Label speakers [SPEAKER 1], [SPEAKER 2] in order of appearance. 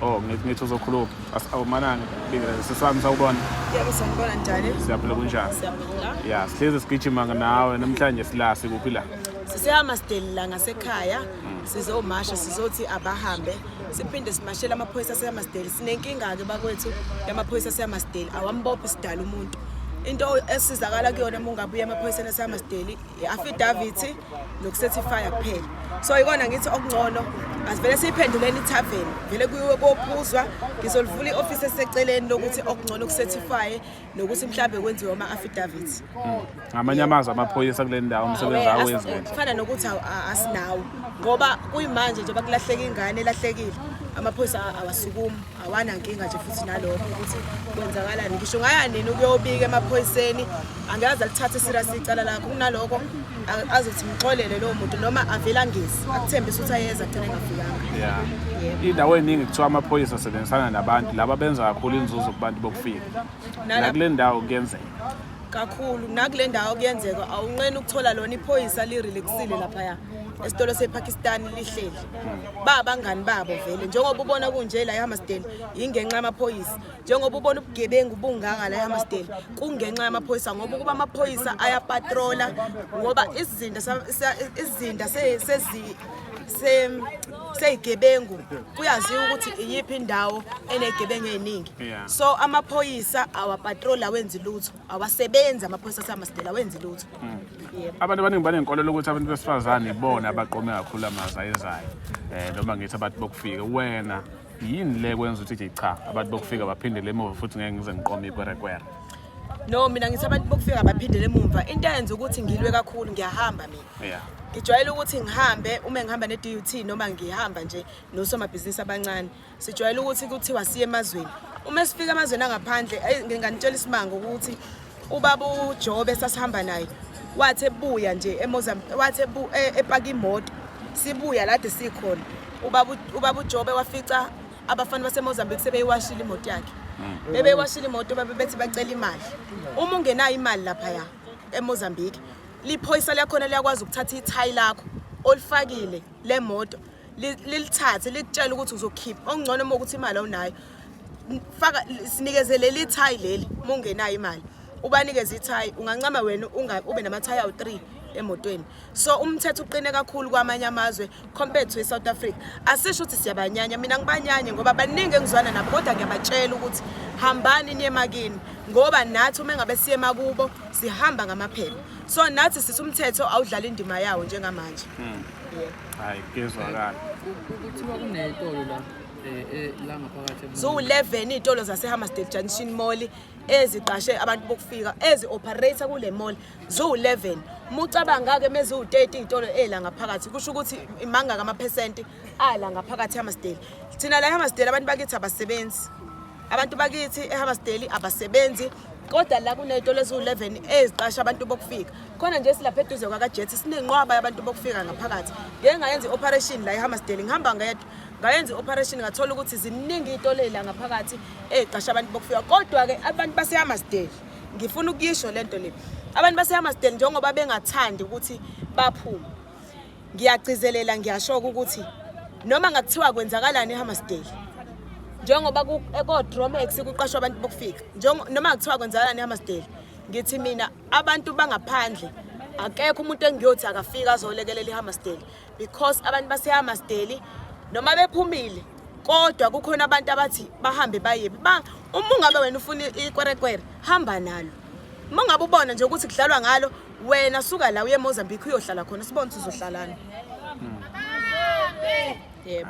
[SPEAKER 1] Oh, ngithi uzokhuluma. Awumanani bingela sesami sawubona. Yebo sanibona
[SPEAKER 2] njani? Siyaphila kunjani?
[SPEAKER 1] Siyaphila. Yeah, sihlezi
[SPEAKER 2] sigijima
[SPEAKER 1] nawe namhlanje sila sikuphi la? Sisihamba sidelila
[SPEAKER 2] ngasekhaya. Mm. Sizomasha sizothi abahambe. Siphinde simashela amaphoyisa sihamba sideli. Sinenkinga ke bakwethu yamaphoyisa sihamba sideli. Awambophi sidala umuntu. into esizakala kuyona uma ungabuya emaphoyiseni esamasdeli i-affidavity nokusethifaya kuphela so ikona ngithi okungcono asivele siyiphenduleni ithaveni vele kuyiwe kophuzwa ngizolivula i-ofisi eseceleni lokuthi okungcono kusethifye nokuthi mhlawumbe kwenziwe ama-affidavit hmm. ngamanye
[SPEAKER 1] amazwi amaphoyisa kule ndawo umsebenzi awenziwe kufana nokuthi
[SPEAKER 2] asinawo ngoba kuyimanje njengoba kulahleka ingane elahlekile amaphoyisa awasukumi awanankinga nje futhi nalokho ukuthi kwenzakalani ngisho ngaya nini ukuyobika emaphoyiseni angikaze alithathe serious icala lakho kunalokho azothi ngixolele lowo muntu noma avela ngisi akuthembisa ukuthi ayeza agcine engafikanga indawo
[SPEAKER 1] eningi kuthiwa amaphoyisa asebenzisana nabantu laba benza kakhulu inzuzo kubantu bokufika nakule ndawo kuyenzeka kakhulu
[SPEAKER 2] nakule ndawo kuyenzeka awunqeni ukuthola lona iphoyisa lirelaxile laphaya esitolo sepakistan lihleli ba abangani babo vele njengoba ubona kunje la ehammersdale yingenxa yamaphoyisa njengoba ubona ubugebengu bungaka la ehammersdale kungenxa yamaphoyisa ngoba ukuba amaphoyisa ayapatrola ngoba izinda izinda sezi seyigebengu kuyaziwa ukuthi iyiphi indawo enegebengu eziningi so amaphoyisa awapatrol awenzi lutho awasebenzi amaphoyisa aseyamasitela awenzi lutho hmm. abantu
[SPEAKER 1] abaningi banenkolelo ukuthi abantu besifazane ibona abaqome kakhulu amazi ayezayo um noma ngithi abantu bokufika wena yini le kwenza ukuthi nje cha abantu bokufika baphindele emuva futhi ngeke ngize ngiqome ikwerekwere no
[SPEAKER 2] mina ngithi abantu bokufika baphindele emumva into eyenza ukuthi ngilwe kakhulu ngiyahambamin yeah ngijwayele ukuthi ngihambe uma ngihamba ne-DUT noma ngihamba nje nosomabhizinisi abancane sijwayele ukuthi kuthiwa siye emazweni uma sifika emazweni angaphandle nginganitshela isimanga ukuthi ubaba uJobe sasihamba naye wathi ebuya nje eMozambique wathi e, epaka imoto sibuya lade sikhona ubaba ubaba uJobe wafica abafana baseMozambique sebeyiwashile imoto yakhe mm. bebeyiwashile imoto babebethi bacela imali uma ungenayo imali lapha ya eMozambique liphoyisa liyakhona liyakwazi ukuthatha ithayi lakho olifakile le moto lilithathe likutshela ukuthi uzokhipha okungcono uma ukuthi imali awunayo faka sinikeze leli thayi leli uma ungenayo imali ubanikeze ithayi ungancama wena ube namathayi awu-three emotweni so umthetho uqine kakhulu kwamanye amazwe compared to eSouth Africa asisho ukuthi siyabanyanya mina ngibanyanye ngoba baningi engizwana nabo kodwa ngiyabatshela ukuthi hambani niye makini ngoba nathi uma ngabe siye makubo sihamba ngamaphepha so nathi sithi umthetho awudlala indima yawo njengamanje hmm.
[SPEAKER 1] hayi kezwakala kuthiwa
[SPEAKER 3] kuneyitolo la eh, eh, la ngaphakathi ziwu-11 iy'tolo
[SPEAKER 2] zasehammersdale junction mall eziqashe abantu bokufika ezi-operator kule mall ziwu-11 mucabanga-ke meziwu-30 iy'tolo ey'la ngaphakathi kusho ukuthi imangaka amaphesenti ala ngaphakathi ehammersdale thina la ehammersdale abantu bakithi abasebenzi abantu bakithi ehammersdale abasebenzi kodwa la kuney'tolo eziwu-11 eziqasha abantu bokufika khona nje silapha eduze kwakajethi sinenqwaba yabantu bokufika ngaphakathi ngeke ngayenza i-operation la ehammersdale ngihamba ngedwa ngayenza i-operation ngathola ukuthi ziningi iy'tolo ey'la ngaphakathi ey'qasha abantu bokufika kodwa-ke abantu basehammersdale ngifuna ukuyisho lento le abantu basehammersdale njengoba bengathandi ukuthi baphume ngiyagcizelela ngiyashoka ukuthi noma ngakuthiwa kwenzakalani ehammersdale njengoba kodromex kuqashwa abantu bokufika noma ngakuthiwa kwenzakalani ehammersdale ngithi mina abantu bangaphandle akekho umuntu engiyothi akafika azolekelela ihammersdale because abantu basehamasteli noma bephumile kodwa kukhona abantu abathi bahambe bayebi ba uma ungabe wena ufuna ikwerekwere hamba nalo uma ungabe ubona nje ukuthi kudlalwa ngalo wena suka la uye emozambique uyohlala khona sibone ukuthi uzohlalana
[SPEAKER 1] hmm. yebo